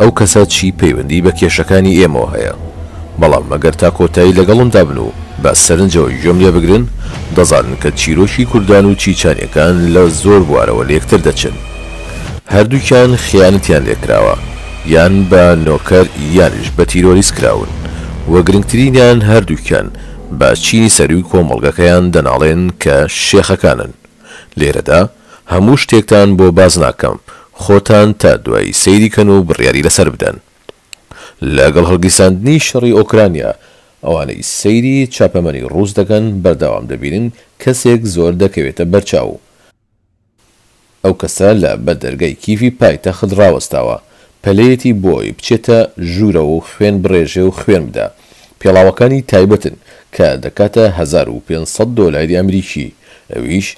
ئەو کەسە چی پەیوەندی بە کێشەکانی ئێمەوە هەیە؟ بەڵام مەگەر تا کۆتایی لەگەڵمدا بن و بە سەرنجەوە گوێم لێ بگرن، دەزانن کە چیرۆکی کوردان و چیچانیەکان لە زۆر بوارەوە لێکتر دەچن. هەردووکیان خیانەتیان لێ کراوە، یان بە نۆکەر یانیش بە تیرۆریست کراون و گرنگترینیان هەردووکیان بە چینی سەرووی کۆمەڵگەکەیان دەناڵێن کە شێخەکانن. لێرەدا هەموو شتێکتان بۆ باس ناکەم، خۆتان تا دوایی سەیری کەن و بڕیاری لەسەر بدەن. لەگەڵ هەڵگیرساندنی شەڕی ئۆکرانیا، ئەوانەی سەیری چاپەمەنی ڕووس دەکەن بەردەوام دەبینن کەسێک زۆر دەکەوێتە بەرچاو و ئەو کەسە لە بەردەرگای کیڤی پایتەخت ڕاوەستاوە، پەلەیەتی بۆ ئەوەی بچێتە ژوورەوە و خوێن بڕێژێ و خوێن بدا. پێڵاوەکانی تایبەتن کە دەکاتە هەزار و پێنج سەد دۆلاری ئەمریکی، ئەویش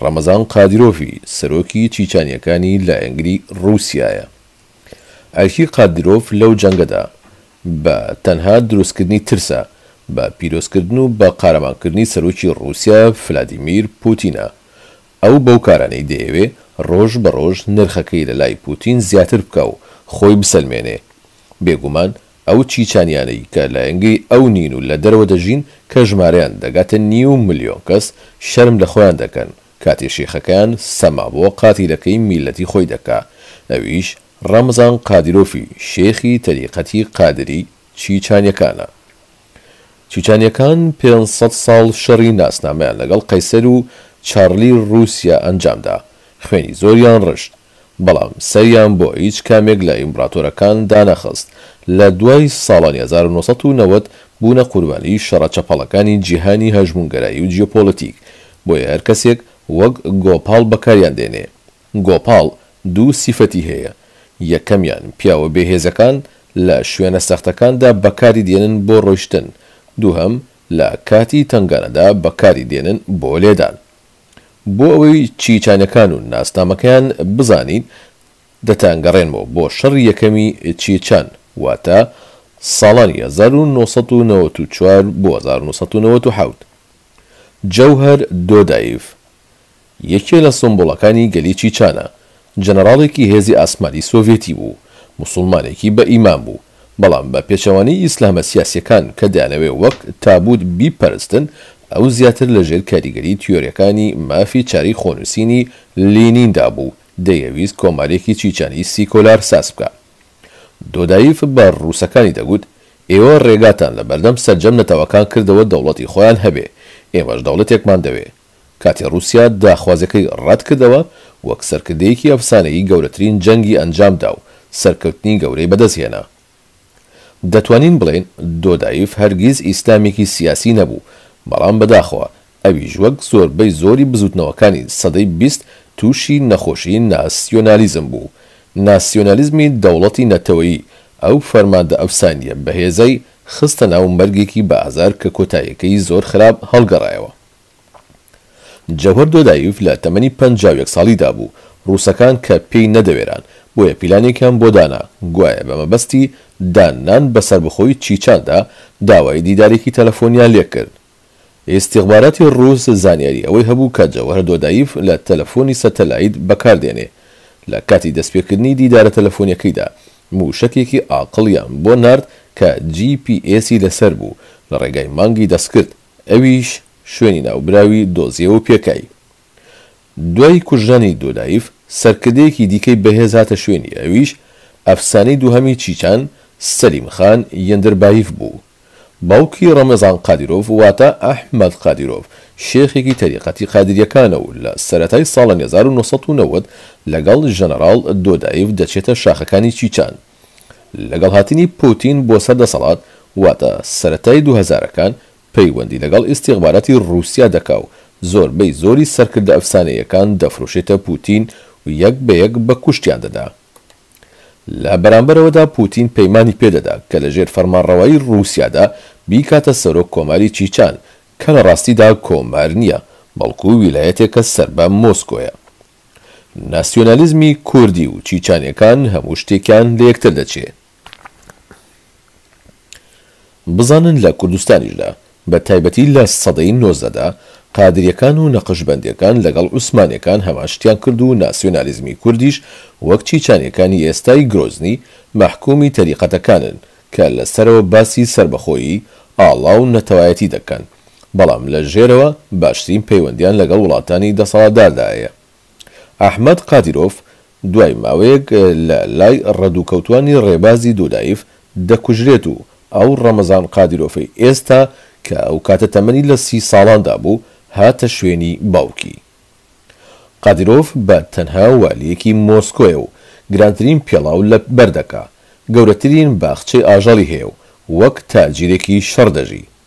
ڕەمەزان قادیرۆڤی سەرۆکی چیچانییەکانی لایەنگری ڕووسیایە. ئەرکی قادیرۆڤ لەو جەنگەدا بە تەنها دروستکردنی ترسە بە پیرۆزکردن و بە قارەمانکردنی سەرۆکی ڕووسیا فلادیمیر پووتینە ئەو بەو کارانەی دەیەوێ ڕۆژ بە ڕۆژ نرخەکەی لە لای پوتین زیاتر بکا و خۆی بسەلمێنێ. بێگومان ئەو چیچانیانەی کە لایەنگری ئەو نین و لە دەرەوە دەژین کە ژمارەیان دەگاتە نیو ملیۆن کەس شەرم لە خۆیان دەکەن کاتێ شێخەکەیان سەما بۆ قاتیلەکەی میللەتی خۆی دەکا ئەویش ڕەمزان قادیرۆفی شێخی تەریقەتی قادری چیچانیەکانە. چیچانیەکان پێنج سەد ساڵ شەڕی ناسنامەیان لەگەڵ قەیسەر و چارلی روسیا ئەنجامدا، خوێنی زۆریان رشت، بەڵام سەریان بۆ هیچ کامێک لە ئیمبراتۆرەکان دانەخست، لە دوای ساڵانی هەزار و نۆ سەد و نەوەد بوونە قوربانی شەڕە چەپەڵەکانی جیهانی هەژموونگەرایی و جیۆپۆلەتیک، بۆیە هەرکەسێک وەک گۆپاڵ بەکاریان دێنێ، گۆپاڵ دوو سیفەتی هەیە، یەکەمیان، پیاوە بێهێزەکان لە شوێنە سەختەکاندا بەکاری دێنن بۆ ڕۆیشتن، دووهەم، لە کاتی تەنگانەدا بەکاری دێنن بۆ لێدان. بۆ ئەوەی چیچانەکان و ناسنامەکەیان بزانیت، دەتانگەڕێنمەوە بۆ شەڕی یەکەمی چیچان، واتە ساڵانی هەزار و نۆ سەد و نەوەد و چوار بۆ هەزار و نۆ سەد و نەوەد و حەوت. جەوهەر دۆدایڤ، یەکێ لە سمبوڵەکانی گەلی چیچانە، جەنەراڵێکی هێزی ئاسمانی سۆڤێتی بوو، موسوڵمانێکی بە ئیمان بوو، بەڵام بە پێچەوانەی ئیسلامە سیاسیەکان کە دەیانەوێ وەک تابووت بیپەرستن، ئەو زیاتر لە ژێر کاریگەری تیۆریەکانی مافی چارەی خۆنووسینی لینیندا بوو، دەیەویست کۆمارێکی چیچانی سیکۆلار ساز بکا. دۆدایف بە ڕووسەکانی دەگووت، ئێوە ڕێگاتان لە بەردەم سەرجەم نەتەوەکان کردەوە دەوڵەتی خۆیان هەبێ، ئێمەش دەوڵەتێکمان دەوێ، کاتێ ڕووسیا داخوازیەکەی ڕەت کردەوە، وەک سەرکردەیەکی ئەفسانەیی گەورەترین جەنگی ئەنجام دا و سەرکەوتنی گەورەی بەدەست هێنا. دەتوانین بڵێین دۆدایف هەرگیز ئیسلامێکی سیاسی نەبوو، بەڵام بەداخەوە ئەویش وەک زۆربەی زۆری بزووتنەوەکانی سەدەی بیست تووشی نەخۆشی ناسیۆنالیزم بوو، ناسیۆنالیزمی دەوڵەتی نەتەوەیی ئەو فەرماندە ئەفسانییە بەهێزەی خستە ناو مەرگێکی بە ئازار کە کۆتاییەکەی زۆر خراپ هەڵگەڕایەوە. جەوهەر دۆدایڤ لە تەمەنی پەنجا و یەک ساڵیدا بوو، ڕووسەکان کە پێی نەدەوێران، بۆیە پیلانێکیان بۆ دانا، گوایە بە مەبەستی دان نان بە سەربەخۆی چیچاندا، داوای دیدارێکی تەلەفۆنیان لێ کرد. ئیستیخباراتی ڕووس زانیاری ئەوەی هەبوو کە جەوهەر دۆدایڤ لە تەلەفۆنی سەتەلایت بەکار دێنێ، لە کاتی دەستپێکردنی دیدارە تەلەفۆنیەکەیدا، مووشەکێکی ئاقڵیان بۆ نارد کە جی پی ئێسی لە سەر بوو، لە ڕێگای مانگی دەست کرد. ئەویش شوێنی ناوبراوی دۆزیەوە و پێکای. دوای کوژرانی دۆلایف، سەرکردەیەکی دیکەی بەهێز هاتە شوێنی، ئەویش ئەفسانەی دووهەمی چیچان، سەلیم خان یەندربایف بوو. باوکی ڕەمەزان قادیرۆڤ واتە ئەحمەد قادیرۆڤ، شێخێکی تەریقەتی قادرییەکانە و لە سەرەتای ساڵانی هەزار و نۆ سەد و نەوەد لەگەڵ ژەنەراڵ دۆدایف دەچێتە شاخەکانی چیچان. لەگەڵ هاتنی پوتین بۆ سەر دەسەڵات واتە سەرەتای دوو هەزارەکان پەیوەندی لەگەڵ ئیستیخباراتی ڕووسیا دەکا و زۆربەی زۆری سەرکردە ئەفسانەییەکان دەفرۆشێتە پوتین و یەک بە یەک بە کوشتیان دەدا. لە بەرامبەرەوەدا پوتین پەیمانی پێ دەدا کە لە ژێر فەرمانڕەوایی ڕووسیادا بیکاتە سەرۆک کۆماری چیچان کە لە ڕاستیدا کۆمار نییە بەڵکوو ویلایەتێکە سەر بە مۆسکۆیە. ناسیۆنالیزمی کوردی و چیچانیەکان هەموو شتێکیان لە یەکتر دەچێ. بزانن لە کوردستانیشدا، بە تایبەتی لە سەدەی نۆزدەدا، قادریەکان و نەقشبەندیەکان لەگەڵ عوسمانیەکان هەمان شتیان کرد و ناسیۆنالیزمی کوردیش وەک چیچانیەکانی ئێستای گرۆزنی، مەحکومی تەریقەتەکانن کە لە سەرەوە باسی سەربەخۆیی، ئاڵا و نەتەوایەتی دەکەن. بەڵام لە ژێرەوە باشترین پەیوەندیان لەگەڵ وڵاتانی دەسەڵاتداردا هەیە. ئەحمەد قادیرۆف دوای ماوەیەک لە لای ڕەدووکەوتووانی ڕێبازی دودایف دەکوژرێت و ئەو ڕەمەزان قادیرۆفەی ئێستا کە ئەو کاتە تەمەنی لە سی ساڵاندا بوو هاتە شوێنی باوکی. قادیرۆف بە تەنها والییەکی مۆسکۆیە و گرانترین پێڵاو لە بەر دەکا، گەورەترین باخچەی ئاژەڵی هەیە و وەک تاجیرێکی شەڕ دەژی.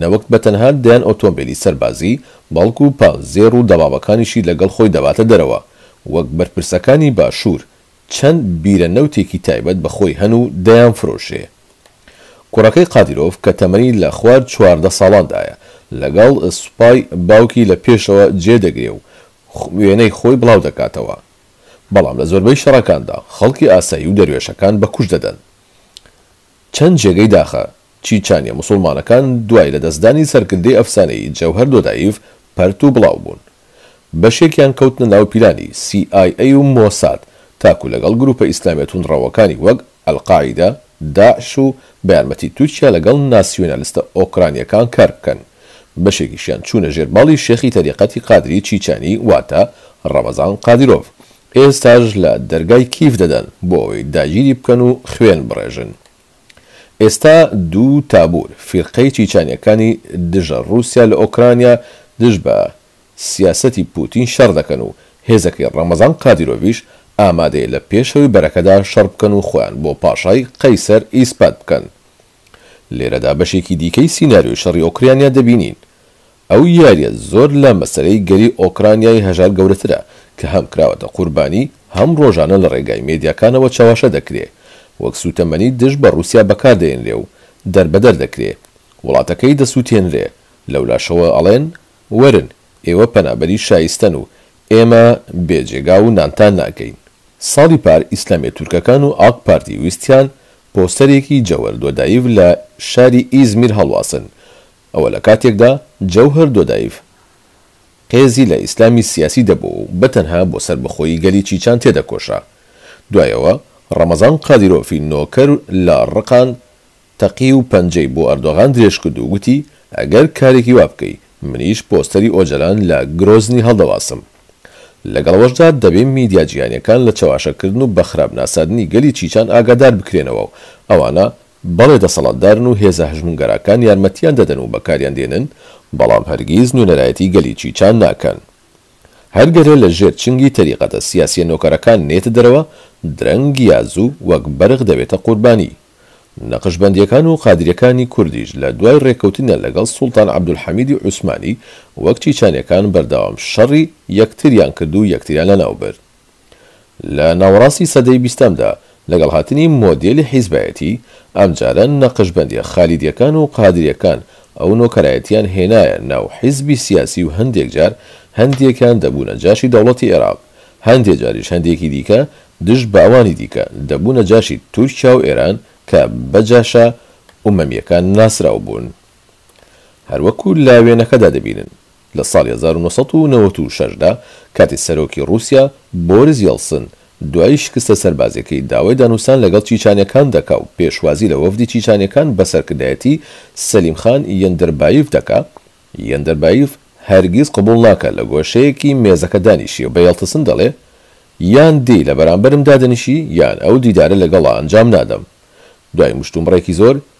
نەوەک بە تەنها دەیان ئۆتۆمبێلی سەربازی، بەڵکو پانزێڕ و دەمامەکانیشی لەگەڵ خۆی دەباتە دەرەوە. وەک بەرپرسەکانی باشوور، چەند بیرە نەوتێکی تایبەت بە خۆی هەن و دەیانفرۆشێ. کوڕەکەی قادیرۆڤ کە تەمەنی لە خوار چواردە ساڵاندایە، لەگەڵ سوپای باوکی لە پێشەوە جێ دەگرێ و وێنەی خۆی بڵاو دەکاتەوە. بەڵام لە زۆربەی شەڕەکاندا، خەڵکی ئاسایی و دەروێشەکان بە کوشت دەدەن. چەند جێگەی داخە، چیچانیە موسوڵمانەکان دوای لە دەستدانی سەرکردەی ئەفسانەیی جەوهەر دۆدایڤ پەرت و بڵاو بوون. بەشێکیان کەوتنە ناو پیلانی سی ئای ئەی و مۆساد تاکو لەگەڵ گروپە ئیسلامیە توندڕەوەکانی وەک، ئەلقاعیدە، داعش و بە یارمەتی تورکیا لەگەڵ ناسیونالستە ئۆکرانیەکان کار بکەن. بەشێکیشیان چوونە ژێر باڵی شێخی تەریقەتی قادری چیچانی واتە، ڕەمەزان قادیرۆڤ، ئێستاش لە دەرگای کیف دەدەن بۆ ئەوەی داگیری بکەن و خوێن بڕێژن. ئێستا دوو تابور فیرقەی چیچانیەکانی دژە روسیا لە ئۆکرانیا دژ بە سیاسەتی پوتین شەڕ دەکەن و هێزەکەی رەمەزان قادیرۆڤیش ئامادەیە لە پێشەوەی بەرەکەدا شەڕ بکەن و خۆیان بۆ پاشای قەیسەر ئیسپات بکەن. لێرەدا بەشێکی دیکەی سیناریۆی شەڕی ئۆکریانیا دەبینین. ئەو یاریە زۆر لە مەسەلەی گەلی ئۆکرانیای هەژار گەورەترە کە هەم کراوەتە قوربانی هەم ڕۆژانە لە ڕێگای مێدیاکانەوە چەواشە دەکرێ وەک سوتەمەنی دژ بە ڕوسیا بەکار دەێنرێ و دەربەدەر دەکرێ وڵاتەکەی دەسوتێنرێ لەولاشەوە ئەڵێن وەرن ئێوە پەنابەری شایستەن و ئێمە بێ جێگا و نانتان ناکەین ساڵی پار ئیسلامیە تورکەکان و ئاک پارتی ویستیان پۆستەرێکی جەوەر دۆدایڤ لە شاری ئیزمیر هەڵواسن ئەوە لە کاتێکدا جەوهەر دۆدایڤ قێزی لە ئیسلامی سیاسی دەبۆ و بە تەنها بۆ سەربەخۆیی گەلی چیچان تێدەکۆشا. دوای ئەوە ڕەمەزان قادیرۆفی نۆکەر لە ڕقان تەقی و پەنجەی بۆ ئەردۆغان درێژ کرد و گوتی ئەگەر کارێکی وا بکەی منیش پۆستەری ئۆجەلان لە گرۆزنی هەڵدەواسم. لەگەڵەوەشدا دەبێ میدیا جیهانیەکان لە چەواشەکردن و بە خراپ ناساندنی گەلی چیچان ئاگادار بکرێنەوە و ئەوانە بەڵێ دەسەڵاتدارن و هێزە هەژموونگەراکان یارمەتیان دەدەن و بەکاریان دێنن، بەڵام هەرگیز نوێنەرایەتی گەلی چیچان ناکەن. هەر گەلێ لە ژێر چنگی تەریقەتە سیاسیە نۆکەرەکان نێتە دەرەوە، درەنگ یا زوو وەک بەرخ دەبێتە قوربانی. نەقشبەندیەکان و قادریەکانی کوردیش لە دوای رێککەوتنیان لەگەڵ سوڵتان عەبدولحەمیدی عوسمانی وەک چیچانیەکان بەردەوام شەڕی یەکتریان کرد و یەکتریان لەناوبرد. لە ناوەڕاستی سەدەی بیستەمدا، لەگەڵ هاتنی مۆدێلی حیزبایەتی، ئەمجارە نەقشبەندیە خالیدیەکان و قادریەکان ئەو نۆکەرایەتیان هێنایە ناو حیزبی سیاسی و هەندێک جار هەندێکیان دەبوونە جاشی دەوڵەتی ئێراق، هەندێ جاریش هەندێکی دیکە دژ بە ئەوانی دیکە دەبوونە جاشی تورکیا و ئێران کە بە جاشە ئومەمیەکان ناسراو بوون. هەروەکو لە وێنەکەدا دەبینن. لە ساڵی هەزار و نۆ سەد و نەوەد و شەش دا کاتێ سەرۆکی ڕووسیا بۆریس یێڵسن دوای شکستە سەربازیەکەی داوای دانوستان لەگەڵ چیچانیەکان دەکا و پێشوازی لە وەفدی چیچانیەکان بە سەرکردایەتی سەلیم خان یەندەربایڤ دەکا یەندەربایڤ هەرگیز قبوڵ ناکا لە گۆشەیەکی مێزەکە دانیشێ و بە یێڵتسن دەڵێ یان دێی لە بەرامبەرم دادەنیشی یان ئەو دیدارە لەگەڵا ئەنجام نادەم دوای مشتومڕێکی زۆر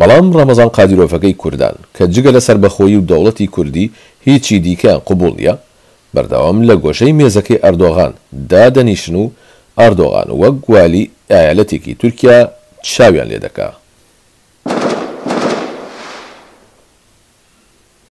بەڵام ڕەمەزان قادیرۆفەکەی کوردان، کە جگە لە سەربەخۆیی و دەوڵەتی کوردی هیچی دیکەیان قبوڵ نیە، بەردەوام لە گۆشەی مێزەکەی ئەردۆغان دادەنیشن و ئاردۆغان وەک والی ئایالەتێکی تورکیا چاویان لێدەکا.